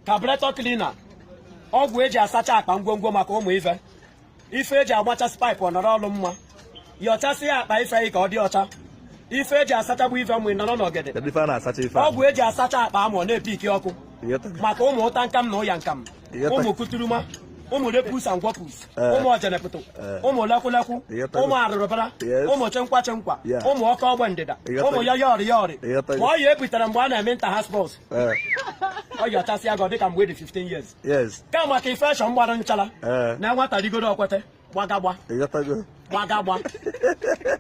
carburetor cleaner ọgwụ eji asacha akpa ngwongwo maka ụmụ ife ife eji agbachasị paịpụ ọnọrọ ọlụ mma yọchasị ya akpa ife ka ọ dị ọcha ife eji asachagbu ife mgbe nọrọ n'ọgede ọgwụ eji asacha akpa amụ na-epiki ọkụ maka ụmụ ụta nkam na ụya nkam ụmụ kuturuma ụmụ repus and gwapus eh. ụmụ ọjanepụtụ eh. ụmụ lakwulakwu ụmụ arụrụbara ụmụ chenkwa chenkwa ụmụ ọkọ ọgba ndịda ụmụ ọya yọrị yọrị ma ọya ebutere mgbe a na-eme inter-house sports eh. ọ yọchasịa gị dịka mgbe dị 15 years kama ka infection gbara nchara na nwata rigoro ọkwete gbagagba ịghọtago gbagagba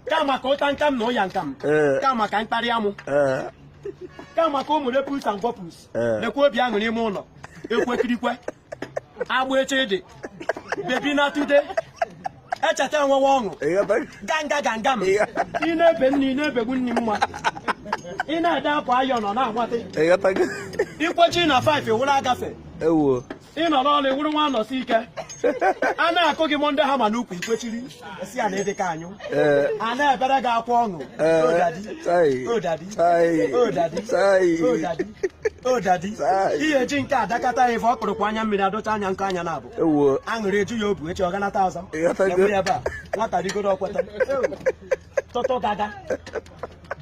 kama ka ụta nkam na ụya nkam Ee. kama ka mkparị amụ ee kama ka ụmụ repus and gwapus Ee. lekwa obi aṅụ n'ime ụlọ ekwekirikwe agba eche ịdị baby na today echeta enwewe ọṅụ ịghọtago ganga ganga m Iya. ị na-ebe nne ị na-ebegbu nne mma ị na-ede akwa ayọ nọ na-agbate ịghọtago ikwechi na 5 ewụla agafe ewuo ị nọ n'ọrụ wụrụ nwa nọsi ike a na-akụ gị Monday hammer n'ukwu ikwechiri si ya na ịdịka anyụ a na-ebere gị akwa ọṅụ odadi ihe ji nke adakata ya ife ọ kpụrụkwa anya mmiri adọcha anya nke anya na-abụ aṅụrị eju ya obu echi ọ ganata ọzọ ebe a nwata rigoro ọkweta tọtọ gaga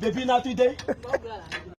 baby na today